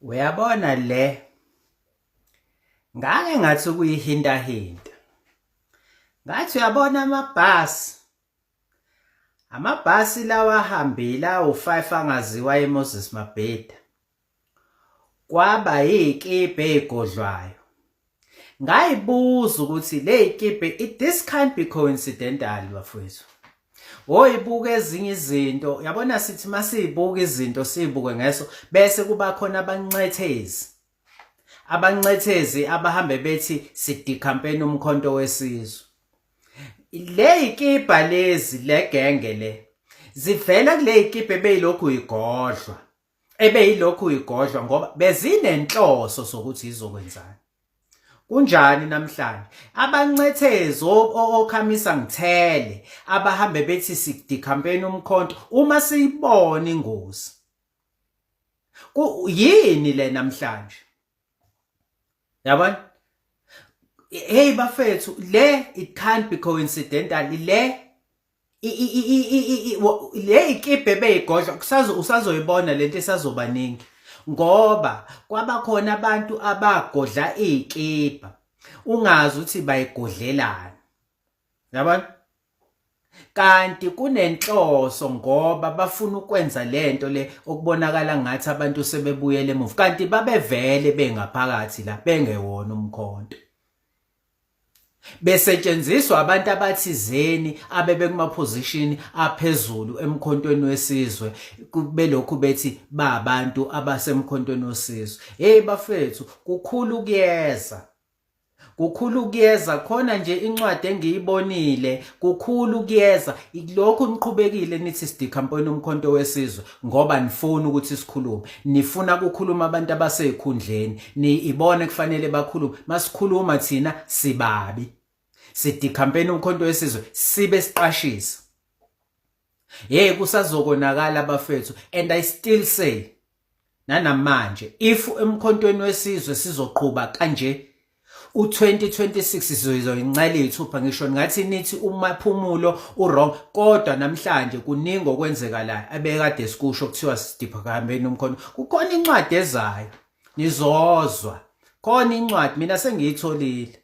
Uyabona le ngake ngathi ukuyihintahinta ngathi uyabona amabhasi amabhasi lawa ahambile awu-five angaziwa emoses mabheda kwaba yikibhe ey'godlwayo Ngayibuza ukuthi le ikipe it this can't be coincidental bafowethu. Woyibuka ezinye izinto yabona sithi masiyibuka izinto siyibuke ngeso bese kuba khona abancethezi. Abancethezi abahambe bethi sidikhampeni umkhonto wesizwe. Le ikipa lezi legenge le zivela kule ikipe beyilokhu igodlwa ebe yilokhu uyigodlwa ngoba bezinenhloso sokuthi izokwenzani kunjani namhlanje abancethezi okhamisa ngithele abahambe bethi sidicampaign umkhonto uma siyibona ingozi yini le namhlanje yabona hey bafethu le it can't be coincidental le le ikibhe ebeyigodla usazoyibona lento esazobaningi ngoba kwabakhona abantu abagodla iy'kibha ungazi ukuthi bayigodlelani yabona kanti kunenhloso ngoba bafuna ukwenza lento le okubonakala ngathi abantu sebebuyele emuva kanti babevele bengaphakathi la bengewona umkhonto besetshenziswa abantu abathizeni abebekumaphozishini aphezulu emkhontweni wesizwe belokhu bethi ba abantu abasemkhontweni wesizwe hey bafethu kukhulu kuyeza kukhulu kuyeza khona nje incwadi engiyibonile kukhulu kuyeza lokhu niqhubekile nithi sidikhamponi umkhonto wesizwe ngoba nifuna ukuthi sikhulume nifuna kukhuluma abantu abasezikhundleni ni ibona kufanele bakhulume masikhuluma thina sibabi sithi campaign umkhonto wesizwe sibe siqashisa hey kusazokonakala abafethu and i still say nanamanje if emkhontweni wesizwe sizoqhuba kanje u2026 sizoyincela izithupha ngisho ngathi nithi umaphumulo uwrong kodwa namhlanje kuningi okwenzeka la abekade sikusho kuthiwa sidipha kahambeni umkhono kukhona incwadi ezayo nizozwa khona incwadi mina sengiyitholile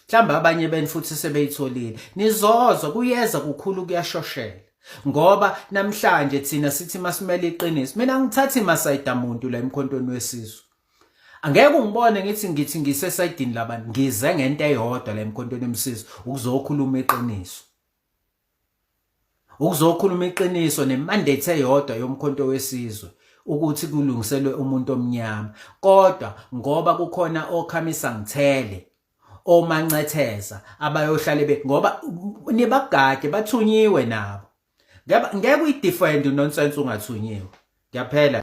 mhlawumbe abanye beni futhi sebeyitholile nizozwa kuyeza kukhulu kuyashoshela ngoba namhlanje thina sithi masimele iqiniso mina ngithathi masayida muntu la emkhontweni wesizwe angeke ungibone ngithi ngithi ngisesayidini labantu ngize ngento eyodwa la emkhontweni emsizi ukuzokhuluma iqiniso ukuzokhuluma iqiniso nemandate eyodwa yomkhonto wesizwe ukuthi kulungiselwe umuntu omnyama kodwa ngoba kukhona okhamisa ngithele omancetheza abayohlale be ngoba nibagade bathunyiwe nabo ngeke uyi-defend unonsense ungathunyiwe ngiyaphela